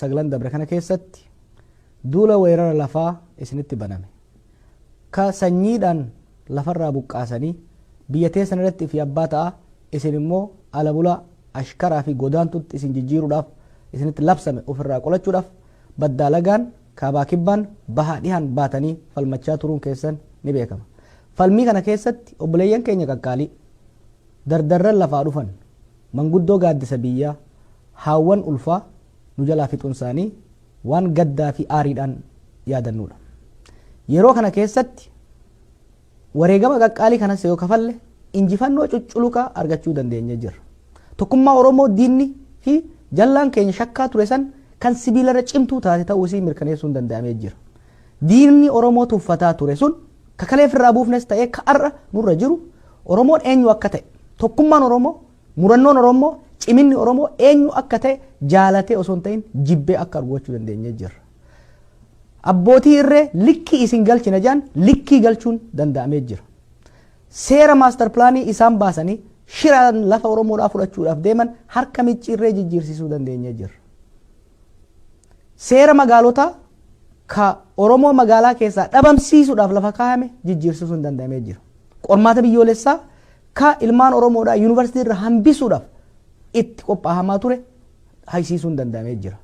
9 dabre kana keessatti duula weerara lafaa isinitti baname ka sanyiidhaan lafarraa buqqaasanii biyya teessan irratti ifi abbaa ta'a isin immoo ala bulaa ashkaraa fi godaantutti isin jijjiiruudhaaf isinitti labsame ofirraa qolachuudhaaf baddaa lagaan kaabaa kibbaan bahaa dhihaan baatanii falmachaa turuun keessan ni beekama falmii kana keessatti obboleeyyan keenya qaqqaalii dardarran lafaa dhufan Manguddoo gaaddisa biyyaa, haawwan ulfaa nu jalaa fixuunsaanii waan gaddaafi aariidhaan yaadannuudha. Yeroo kana keessatti wareegama qaqqaalii kanas yoo kafalle injifannoo cucculuqaa argachuu dandeenyee jirra. Tokkummaa Oromoo diinni fi jallaan keenya shakkaa ture san kan sibiilarra cimtuu taate ta'uu isii mirkaneessuun danda'amee jira. Diinni Oromoo tuffataa ture sun ka kalee firraa buufnes ta'ee ka ar'a nurra jiru Oromoon eenyu akka ta'e, tokkummaan Oromoo, murannoon Orommoo, ciminni Oromoo eenyu akka ta'e jaalatee osoo hin ta'in jibbee akka argu gochuu dandeenyee jirra. Abbootii irree likkii isin galchina jedhan likkii galchuun danda'amee jira. Seera maastar pilaanii isaan baasanii shiraan lafa Oromoodhaa fudhachuudhaaf deeman harka micciirree jijjiirsiisuu dandeenyee jirra. Seera magaalotaa ka Oromoo magaalaa keessaa dhabamsiisuudhaaf lafa kaayame jijjiirsisuun danda'amee jira. Qormaata biyyoolessaa ka ilmaan Oromoodhaa yuunivarsiitii irraa hambisuudhaaf itti qophaahamaa ture haysiisuun danda'amee jira.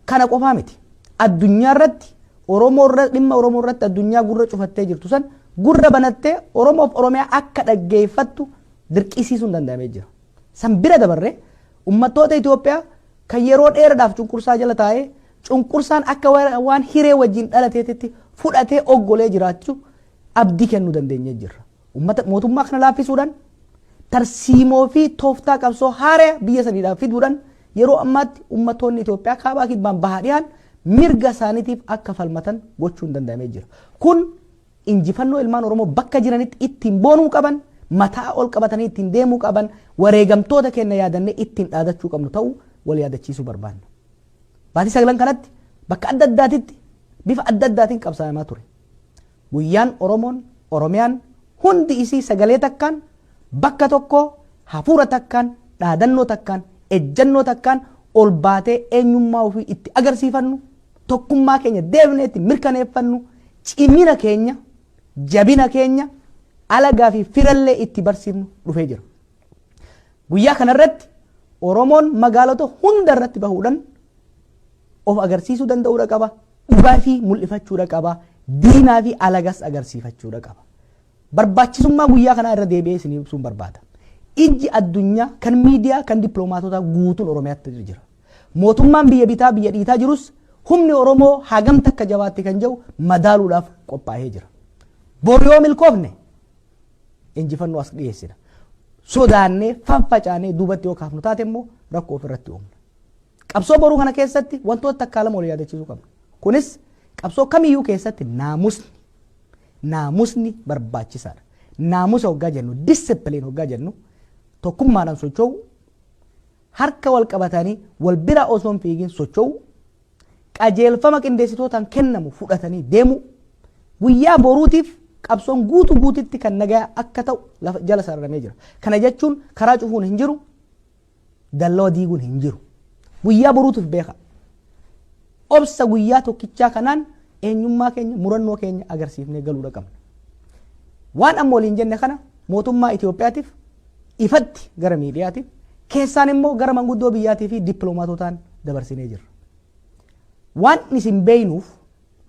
Kana qofaa miti. Addunyaa irratti Oromoo irra dhimma Oromoo irratti addunyaa gurra cufattee jirtu san gurra banattee Oromoof Oromiyaa akka dhaggeeffattu dirqisiisuun danda'amee jira. San bira dabarree ummattoota Itoophiyaa Kan yeroo dheeradhaaf cunqursaa jala taa'ee cunqursaan akka waan hiree wajjin dhalateetitti fudhatee oggolee jiraachu abdii kennuu dandeenyee jirra. Ummata mootummaa kana laaffisuudhaan tarsiimoo fi tooftaa qabsoo haaraya biyya saniidhaaf fiduudhaan yeroo ammaatti ummattoonni Itoophiyaa kaabaa kibbaan bahaa dhiyaan mirga isaaniitiif akka falmatan gochuun danda'amee jira. Kun Injifannoo ilmaan Oromoo bakka jiranitti ittiin boonuu qaban, mataa ol qabatanii ittiin deemuu qaban, wareegamtoota keenna yaadannee ittiin dhaadachuu qabnu ta'uu wal yaadachiisuu barbaanna. Baatii saglan kanatti bakka adda addaatitti bifa adda addaatiin qabsaayamaa ture. Guyyaan Oromoon, Oromiyaan hundi isii sagalee takkaan, bakka tokkoo, hafuura takkaan, dhaadannoo takkaan, ejjannoo takkaan ol baatee eenyummaa ofii itti agarsiifannu, tokkummaa keenya deebinee itti mirkaneeffannu, cimina keenya, jabina keenya, alagaa fi firallee itti barsiifnu dhufee jira. Guyyaa kanarratti Oromoon magaalota hunda irratti bahuudhaan of agarsiisuu danda'uudha qaba. Dhugaa fi mul'ifachuudha qaba. Diinaa fi alagas agarsiifachuudha qaba. Barbaachisummaa guyyaa kanaa irra deebi'ee isin ibsuun barbaada. Ijji addunyaa kan miidiyaa kan dippiloomaatotaa guutuun Oromiyaatti jira. Mootummaan biyya bitaa biyya dhiitaa jirus humni Oromoo hagam takka jabaatte kan jedhu madaaluudhaaf qophaa'ee jira. Bor yoo milkoofne injifannoo as dhiyeessina. Sodaannee faffacaanee duubatti yoo kaafnu taate immoo rakkoo ofirratti uumna. Qabsoo boruu kana keessatti wantoota takkaa lama wal yaadachiisuu qabna. Kunis qabsoo kamiyyuu keessatti naamusni naamusni barbaachisaadha. Naamusa hoggaa jennu discipline hoggaa jennu tokkummaadhaan socho'uu Harka wal qabatanii wal bira osoo hin fiigin socho'uu, qajeelfama qindeessitootaan kennamu fudhatanii deemuu, guyyaa boruutiif qabsoon guutu guutitti kan nagaa akka ta'u lafa jala sararamee jira. Kana jechuun karaa cufuun hin jiru, dallawa diiguun hin jiru. Guyyaa boruutiif beekaa. Obsa guyyaa tokkichaa kanaan eenyummaa keenya, murannoo keenya agarsiifnee galuudha qabna. Waan amma waliin jenne kana mootummaa Itoophiyaatiif ifatti gara miidiyaatiin, keessaan immoo gara manguddoo biyyaatii fi dippiloomaatotaan dabarsinee jirra. Waan isin beeynuuf,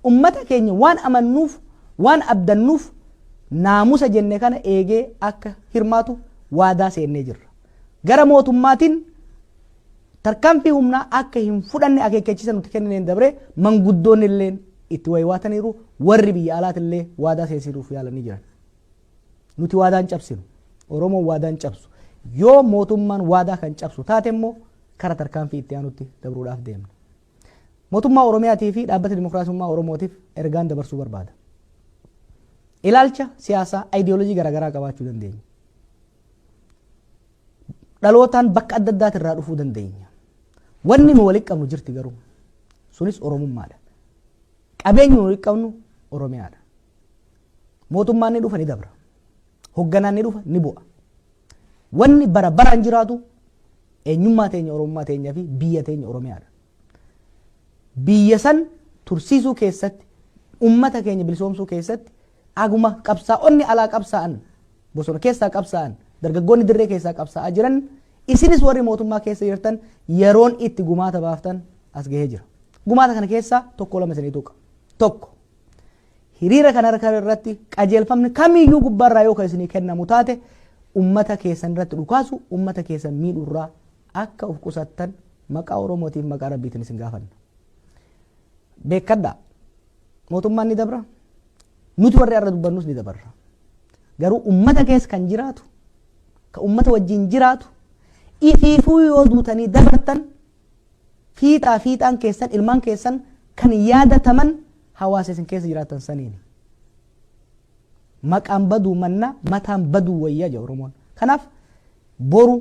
ummata keenya waan amannuuf, waan abdannuuf naamusa jenne kana eegee akka hirmaatu waadaa seennee jirra. Gara mootummaatiin Tarkaanfii humnaa akka hin fudhanne akeekkachiisa nuti kennineen dabree manguddoonnilleen itti waywaataniiru, warri biyya alaatillee waadaa seensiisuuf yaalanii jiran. Nuti waadaa hin cabsinu. Oromoon waadaa hin cabsu. Yoo mootummaan waadaa kan cabsu taate immoo kara tarkaanfii itti aanutti dabruudhaaf deemna. Mootummaa Oromiyaatii fi Dhaabbata Dimookiraasummaa Oromootiif ergaan dabarsuu barbaada. Ilaalcha siyaasaa, ayidiyoolojii garaagaraa qabaachuu dandeenya. dhalootaan bakka adda addaati irraa dhufuu dandeenya. Wanni nu walitti qabnu jirti garuu sunis Oromummaadha. Qabeenyi nu walitti qabnu Oromiyaadha. Mootummaan ni dhufa ni dabra. Hogganaan ni dhufa ni bu'a. Wanni bara baraan jiraatu eenyummaa teenya Oromummaa teenyaa fi biyya teenya Oromiyaadha. biyya san tursiisuu keessatti, ummata keenya bilisoomsuu keessatti aguma qabsaa'onni alaa qabsaa'an, bosona keessaa qabsaa'an, dargaggoonni dirree keessaa qabsaa'aa jiran isinis warri mootummaa keessa jirtan yeroon itti gumaata baaftan as gahee jira. Gumaata kana keessaa tokko lama isinii tuqa. Tokko hiriira kana irratti qajeelfamni kamiyyuu gubbaarraa yoo kan isinii kennamu taate ummata keessan irratti dhukaasu ummata keessan miidhurraa Akka uf qusattan maqaa Oromootiif maqaa Rabbiitiin isin gaafanna. Beekkadhaa! Mootummaan ni dabra, nuti warri har'a dubbannus ni dabarra. Garuu ummata keessa kan jiraatu, kan ummata wajjin jiraatu, ifiifuu yoo duutanii dabartan fiixaa fiixaan keessan ilmaan keessan kan yaadataman hawaasa isin keessa jiraatan saniini. Maqaan baduu mannaa mataan baduu wayya jedha Oromoon. Kanaaf Boru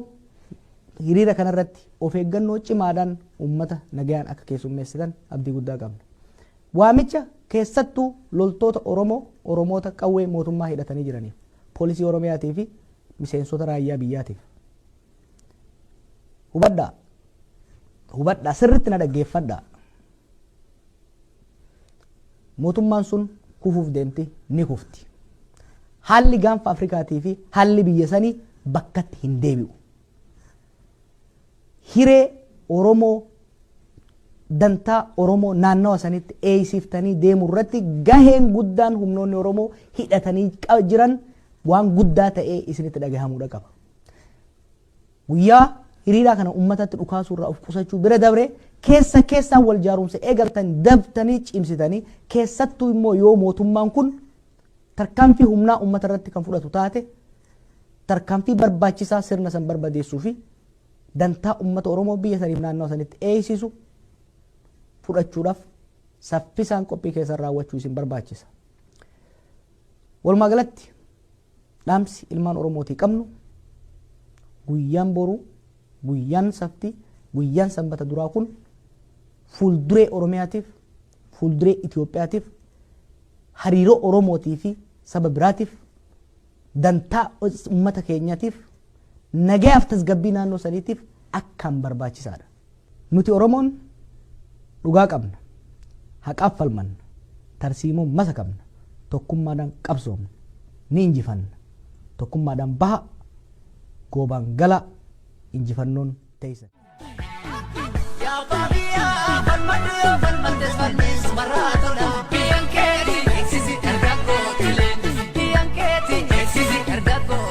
hiriira kana irratti of eeggannoo cimaadhaan uummata nagayaan akka keessummeessitan abdii guddaa qabna. Waamicha keessattuu loltoota Oromoo, Oromoota qawwee mootummaa hidhatanii jiraniif, Poolisii Oromiyaatii fi miseensota raayyaa biyyaatiif. Hubadhaa! Hubadhaa! Sirriitti na dhaggeeffadhaa! Mootummaan sun kufuuf deemti, ni kufti. Haalli gaanfa Afrikaatii fi haalli biyya sanii bakkatti hin deebi'u. Hiree Oromoo dantaa Oromoo naannawa sanitti eeysiftanii deemu irratti gaheen guddaan humnoonni Oromoo hidhatanii jiran waan guddaa ta'ee isinitti dhagahamuudha qaba. Guyyaa hiriiraa kana ummatatti dhukaasuu irraa of qusachuu bira dabree keessa keessaan wal jaarumsa eegaltan dabtanii cimsitanii keessattuu immoo yoo mootummaan kun tarkaanfii humnaa ummata irratti kan fudhatu taate tarkaanfii barbaachisaa sirna san barbadeessuu fi dantaa ummata Oromoo biyya saniif naannawa sanitti eeysisu fudhachuudhaaf saffisaan qophii keessan raawwachuu isin barbaachisa. Walumaa galatti Dhaamsi ilmaan Oromootii qabnu guyyaan boruu, guyyaan safti, guyyaan sanbata duraa kun fuulduree Oromiyaatiif, fuulduree Itoophiyaatiif, hariiroo Oromootii fi saba biraatiif, dantaa uummata keenyaatiif, nagayaaf tasgabbii naannoo saniitiif akkaan barbaachisaadha. Nuti Oromoon dhugaa qabna, haqaaf falmanna, tarsiimoon masakamna, tokkummaadhaan qabsoomna. Ni injifanna. Tokkummaadhaan bahaa, goobaan galaa, injifannoon teessan. Ya abbaa biyyaa falmadhu yoo falmattes falmiis marraa tola. Biyyan keeti eegsisi dargaggoo tileen. Biyyan keeti eegsisi dargaggoo.